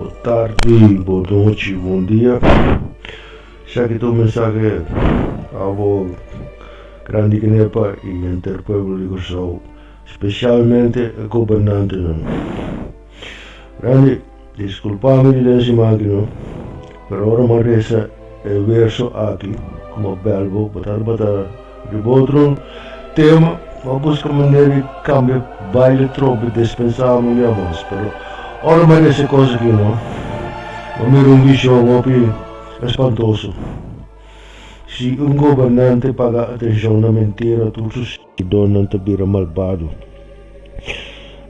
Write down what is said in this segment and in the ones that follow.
Bon tardi, bon nochi, bon dia. Shaki ta un mensahe abo grandi Kenepa i henter pueblo di Kòrsou, spesialmente e gobernantenan. Randy, disculpa mi di Densima aki no, pero ora mi a resa e verso aki cu mi a bel bo, bo tabata riba otro tema, mi a busca manera di cambia baile tropi dispensaba mi dia mas, pero ora mi a resa e cos aki no, mi a mira un vision hopi espantoso, si un gobernante paga atencion na mentira tur su. E donnan ta bira malbado.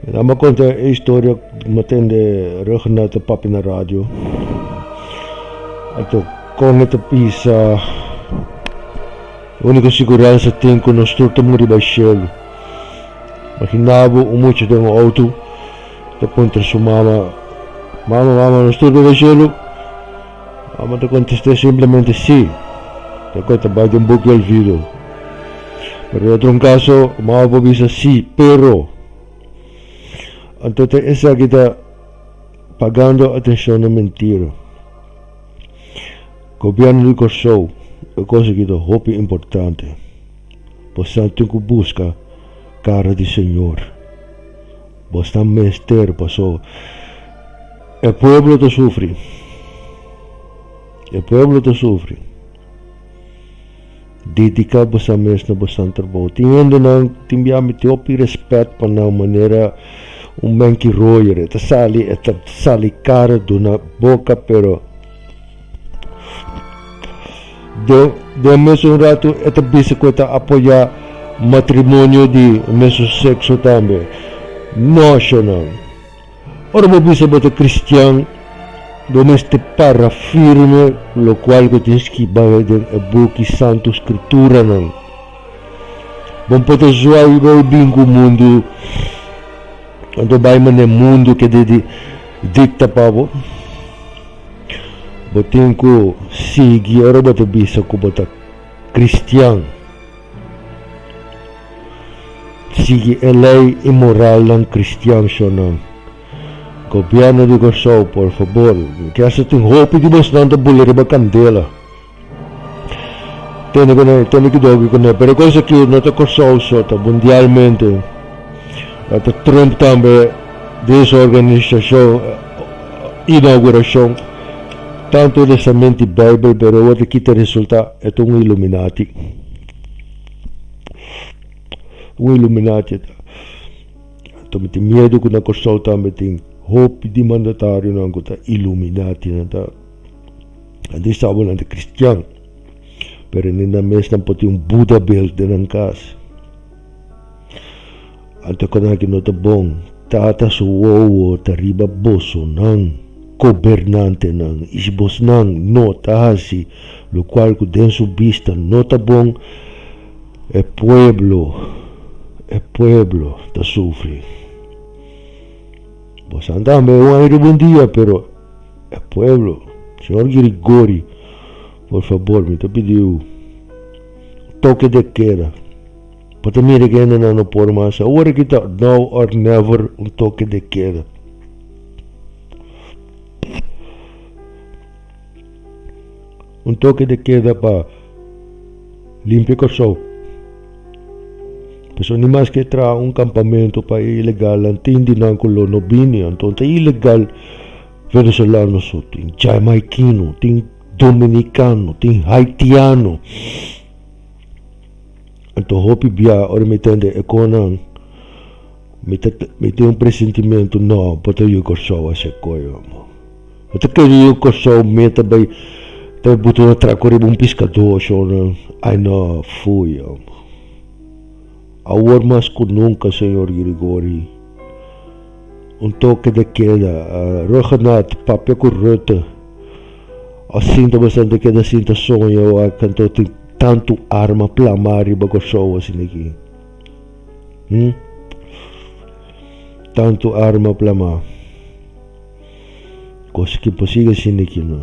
Nan a konta e historia kuma tende Reginald ta papia na radio. Ato kon e ta bisa, E uniko siguransa tin ku nos tur ta muri bai shelu. Imaginabo un mucha den un outo ta puntra su mama, Mama, mama, nos tur ta bai shelu? Amo ta contest'é simplemente sí, ta coi ta bai den book di olvido. Pero e otro un caso, un ao por bisa sí, pero. Anto ta esaki ta pagando atencion na mentira. Gobierno di Corsou, e cos aki ta hopi importante. Bo sa tin cu busca cara di Señor. Bos ta mester paso e pueblo ta sufri e pueblo ta sufri dedica bosa mes na bosan trabou tin hende nan tin bia miti hopi respet pa nan manera un benki royer e ta sali e ta sali cara duna boca pero. Den mesun ratu e ta bisa ku e ta apoyá matrimonio di mesun sekso tambe. Noshonnan. Ora bo bisa bo ta kristian, bo mester para firme lokual ku tin skibá den e buki Santu Skrituranan. Bo no por ta suayi bai bin ku mundu, anto bai manera mundu keda dikta pa bo. Bo tin ku sigui ora bo ta bisa ku bo ta kristian. Sigui e lei i moralnan kristian shonnan. Gobièrnu di Kòrsou, por fabor, mi ke esta tin hopi di bosnan ta bula riba kandela. Tende cu ne, tende cu doki cu ne. Pero e cos aki no ta Corsou so, ta mundialmente. Ta Trump tambe den su organisacion inauguracion tanto de sa menti Bijbel pero e wordo kita resulta e ta un illuminati. Un illuminati e ta. Anto mi tin miedu cu na Corsou tambe tin hopi di mandatarionan cu ta illuminatinan ta. Nan tin sabo nan ta kristian, pero ni nan mes nan por tin un Buda bel den nan kas. Anto kos aki no ta bon, tata su wowo ta riba bosonan, gobernantenan i si bosnan no ta hasi lokual ku den su bista no ta bon, e pueblo e pueblo ta sufri. Bosan tambe un aña riba un dia, pero E pueblo, Señor Grigori, por fabor mi ta pidiu un toke de keda pa ta mira ke hendenan no por mas, awor aki ta now or never un toke de keda. Un toke de keda pa limpia Kòrsou. Pasobra ni mas ke traha un kampamentu pa e ilegalnan tin di nan ku lo no bini. Anto ta ilegal Venezolano su, tin Jamaikino, tin Dominikano, tin Haitiano. Anto hopi bia ora mi tende e konan mi ta mi tin un presentimentu, no, bo ta yu Kòrsou a hasi e koyo. Bo ta kere yu Kòrsou me ta bai ta bai butu na traku riba un piskadó shona? Ai nò, fui òm. Awor mas ku nunka, señor Grigori, un toke de keda. Rhuggenaath, papia ku Rutte, a sinta bastante keda a sinta soña wak kantu tin tantu arma plamá riba Kòrsou asin aki, hm? Tantu arma plamá. Cos ki por sigue sinti ki no.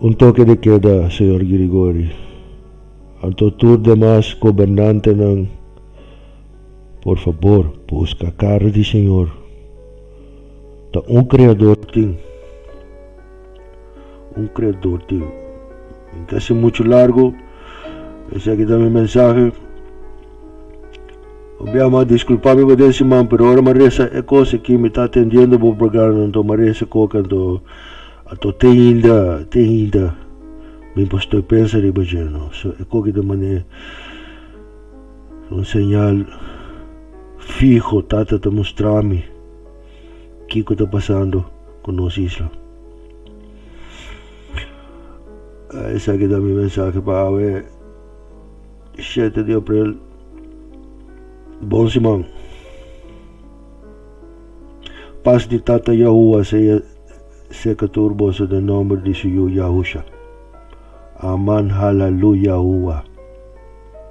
Un toke de keda, Señor Grigori, anto tur demas gobernantenan por fabor busca cara di Señor. Ta un Creador tin. Un creador tin. Tin ke haci mucho largo. Esaki ta mi mensahe. Bo bia ma disculpa mi bo den siman pero ora mi resa e cos aki mi ta atendiendo bo programa anto mi resa coke anto anto te ainda te ainda mi bo estoy pensa riba dje no so e coke ta mane un señal fiho tata ta mustrami. Kiko ta pasando ku nos isla? Esaki ta mi mensahe pa awe shete di aprel. Bon siman. Pas di Tata Yahuwa sea seka tur boso den nomber di su Yu Yahusha. Aman Halaluyahuwa.